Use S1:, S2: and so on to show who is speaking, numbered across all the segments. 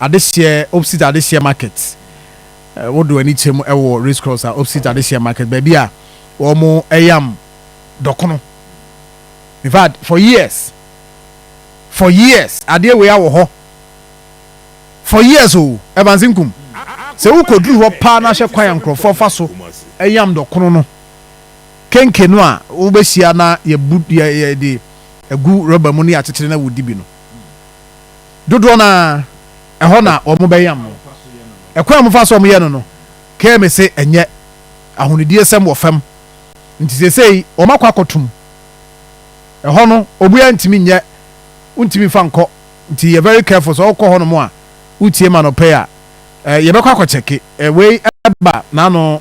S1: adehyeɛ opsite adehyeɛ market wode w'ani kyɛm wɔ race cross a opsite adehyeɛ market baabi a wɔn ɛyam dɔkono in fact for years for years adeɛ wei awɔ hɔ for years o ɛbanse nkum sɛ wokɔduru hɔ paa na hwɛ kwan a nkurɔfoɔ fa so ɛyam dɔkono no kenke no a wobɛhyia na yɛbu yɛde agu rɔba mu ne akyekyere na wodi bi no Dodoɔ no ara, ɛhɔ na wɔbɛyam no. Ɛkwan a wɔfa so yɛ no no, Kagame se ɛnyɛ ahonidiyesɛm wɔ fam, nti seesei wɔakɔ akɔto mu. Ɛhɔ no, obiara ntumi nyɛ, wontumi mfa nkɔ, nti yɛ very careful sɛ wokɔ hɔnom a, wotie ma no pɛ a, yɛbɛkɔ akɔkyɛke. Wei ba n'ano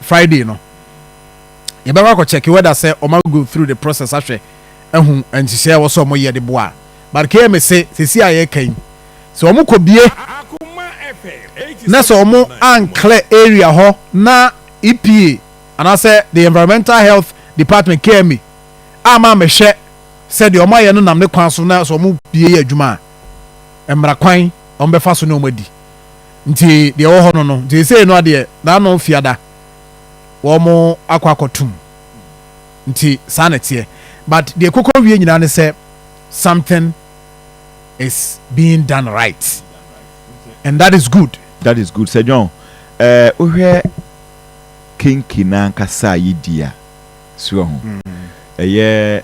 S1: Friday no, yɛbɛkɔ akɔkyɛke whether sɛ wɔago through the process ahwɛ ahu nhyehyɛe a ɛwɔ sɛ wɔyɛ de boa Barkeɛ me se sesei a yɛka yi sɛ ɔmo kɔ bie na sɛ ɔmo anclear area hɔ na EPA anaasɛ the environmental health department KEMA amma ammɛhwɛ sɛ deɛ ɔmo ayɛ no nam ne kwan so na sɛ ɔmo bie yɛ adwuma a mmara kwan ɔmo bɛfa so ne ɔmo adi nti deɛ ɛwɔ hɔ no no nti sesei no adeɛ n'ano fiada wɔn akɔ akɔtum nti saa na ɛteɛ but deɛ ɛkokɔ wie nyinaa ne sɛ something is being done right and that is good. That is good. Sir John,
S2: eh, wohwɛ kenki no ankasa a yɛdi a, so ahu. Mm. Ɛyɛ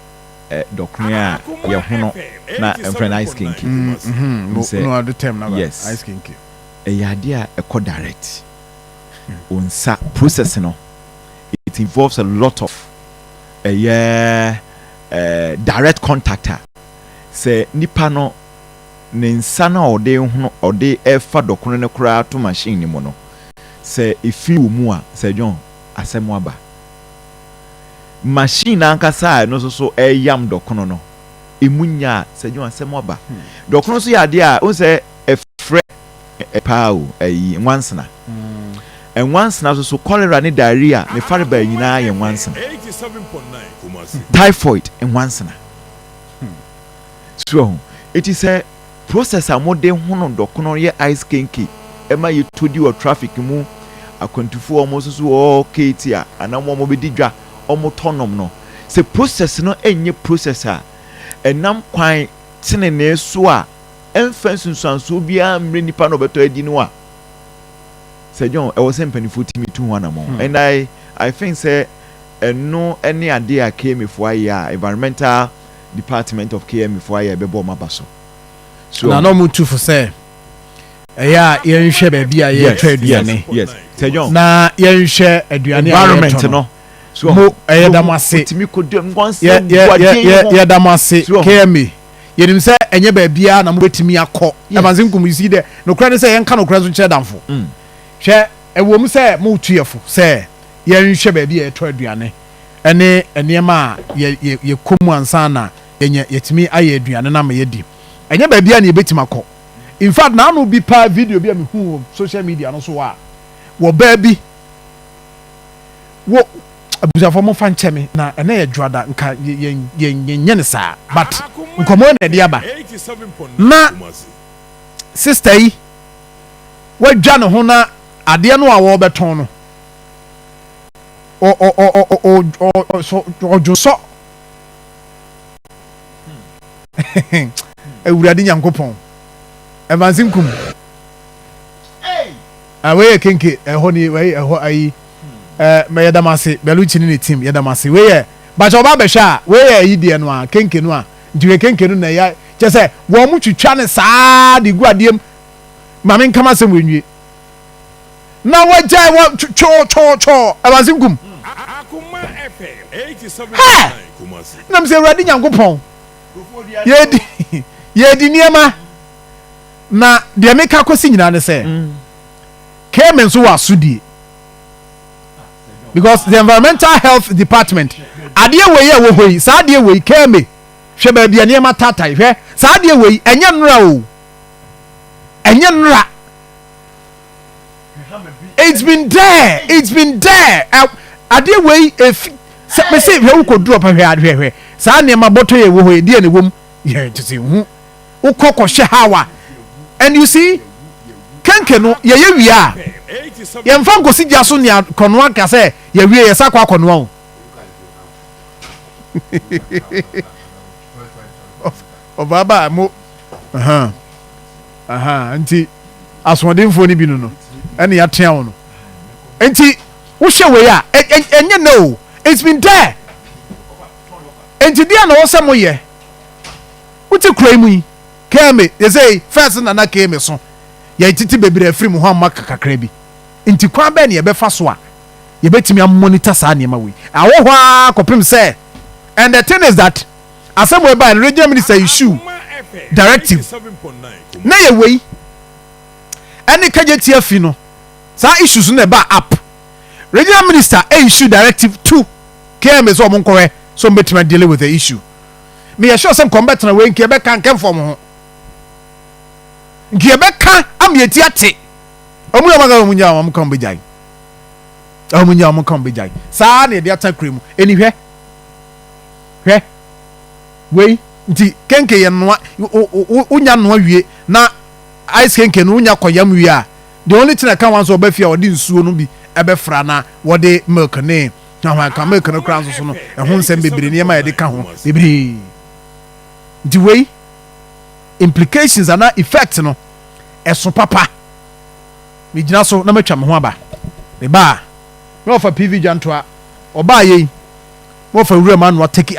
S2: eh, dɔkono a yɛhono na ɛmfrɛ no ice kenki. Mm, mm-hmm. no, sɛ, no
S1: ade term na yes. ice kenki. Ɛyɛ adeɛ a
S2: ɛkɔ direct. Wo nsa process no it involves a lot of ɛyɛ eh, direct contact a sɛ nipa no ne nsa no a ɔde hono ɔde ɛfa dɔkono no koraa to machine no mu no sɛ efiri wɔ mu a sɛ John asɛm aba machine ankasa a ɛno nso so ɛyam dɔkono no emu nya a sɛ John asɛm aba hmm. dɔkono nso yɛ adeɛ a ɔn sɛ ɛfrɛ paa o, ayi, nwansena. Nwansena so so, cholera ne diarrhea ne farebaa nyinaa yɛ nwansena. Typhoid, nwansena. So ahu, eti sɛ process a wɔde hono dɔkono yɛ ice kenke ma yɛtɔ di wɔ traffic mu, akwantufo a wɔsoso wɔwɔ keeti a anaa wɔn a wɔbɛdi dwa wɔtɔ nom no, sɛ process no nyɛ process a ɛnam kwan tenenee so a, ɛmfa nsunsuansoɔ biara mmerɛ nnipa no ɔbɛtɔ adi no a, Sir John, ɛwɔ sɛ mpaninfoɔ tumi tu ho anamɔn. And I, I think sɛ ɛno ne adeɛ a KMA foɔ ayɛ a Environmental Department of KMA foɔ ayɛ a ɛbɛbɔ wɔn aba so. So Na na ɔhu? wɔn tu fo
S1: sɛ ɛyɛ a yɛnhwɛ baabi
S2: a
S1: yɛretɔ Yes, yes, aduane yes.
S2: Sir
S1: John, na yɛnhwɛ aduane a
S2: yɛretɔ
S1: environment no. no. So Mo, ɛyɛ da mo ase. Wotumi kɔdua mu, wɔn Yɛ, nsɛm yɛ, bɔ yɛ, adeɛ yɛ, yi ho. yɛda mo ase, So ɔho? KMA. Yɛnim sɛ ɛnyɛ baabiara na mobɛtumi akɔ. Ɛmansinkum, you see, dɛ nokorɛ ne sɛ yɛnka nokorɛ nso nkyerɛ damfo. Mm. Hwɛ, ɛwom sɛ moretu yɛ fo sɛ yɛnhwɛ baabi a yɛtɔ aduane ne nneɛma a yɛ, yɛ, yɛkɔ mu ansa na yɛnya, yɛtumi ayɛ aduane no ama yɛadi. Ɛnyɛ baabiara na yɛbɛtumi akɔ. In fact, naano bi paa video bi a mehuu wɔ social media no so a, wɔ baa bi, wo abusuafoɔ mo fa nkyɛ me na ɛnɛ yɛ dwoada nka yɛnyɛ ne saa but nkɔmɔ na ɛde aba na sista yi wadwa ne ho na adeɛ no a wɔbɛtɔn no ɔdwosɔ awurade nyankopɔn ɛvanse nkum Ah, wei yɛ kenke, ɛhɔ ni, wei ɛhɔ ayi. Ɛɛ, eh, mɛ yɛdam ase, Bellucci ne ne team, yɛdam ase. Wei yɛ, bakyɛ ɔba abɛhwɛ a, wei yɛ ayi deɛ no a, kenke no a, nti hwɛ kenke no na ya, kyɛ sɛ, wɔn mo twitwa ne saa de gu adeɛ mu, ma me nkama asɛm wei nwie. Na wɔgyae wɔ twɔɔ twɔɔ twɔɔ, awurase nkum.
S3: Hɛ! Nam sɛ awurade
S1: Nyankopɔn, yɛdi, yɛdi nneɛma. Na deɛ meka akɔsi nyinaa ne sɛ, Cayman nso wɔ asodie because the environmental health department adeɛ wei a ɛwɔ hɔ yi saa adeɛ wei Cayman hwɛ baabi a nneɛma taatae hwɛ saa adeɛ wei ɛnyɛ nnora o ɛnyɛ nnora it's been there it's been there adeɛ wei efi sɛ mese hwɛ wokɔ duro pɛ hwɛ hwɛ hwɛ saa nneɛma bɔtɔ yɛ wɔ hɔ yi deɛ na ɛwɔ mu yɛ te sɛ hu. wokɔ kɔhwɛ Hawa and you see kenke no yɛyɛ wie a yɛmfa nkosi gya so nea kɔnoa ka sɛ yɛwie yɛsa kɔ akɔnoa o ɔbaaba mo nti asoɔdenfoɔ no bi no no ɛne yɛatea wo no nti wohwɛ wei a ɛnyɛ nɛ o it's been there nti deɛ na wɔ sɛ moyɛ Wotse kura yi mu yi, Kemi dze sɛ yi first na na Kemi so yɛ tsetse beberee afir mu hɔ amma kakra bi. Ntsi kwan bɛn na yɛbɛfa so a yebetumi a monitor saa nneɛma wei? Awɔ hɔ ara kɔpem sɛ And the thing is that asɛm wei bae no, Regional Minister issue directive na yɛ wei ne Kegyeti afi no, saa issues no na ɛbaa up. Regional Minister issue directive to Kemi sɛ wɔn nkɔhwɛ sɛ wɔn bɛtumi a dealing with the issue. meyɛ sure sɛ nkɔm bɛtena wei nka yɛbɛka nka mfɔm ho nka yɛbɛka ama yɛti ate ɔmu yɛ ɔmaka ɔmu nya ɔmu ka ɔmu bɛgyae ɔmu nya ɔmu ka ɔmu bɛgyae saa na yɛde ata kura mu ɛni hwɛ hwɛ wei nti kenke yɛ noa wonya noa wie na ice kenke no wonya kɔyam wie a the only thing I can want so ɔbɛfie a wɔde nsuo no bi ɛbɛfra na wɔde milk ne Na hwan ka milk no koraa nso so no, ɛho nsɛm bebree, nneɛma a yɛde ka ho bebree. Nti wei implications anaa effect no ɛso papa. Megyina so na matwa me ho aba. Mebaa na wɔfa PV Dwantoa, ɔbaa yei na wɔfa Wuram Anoa Teki.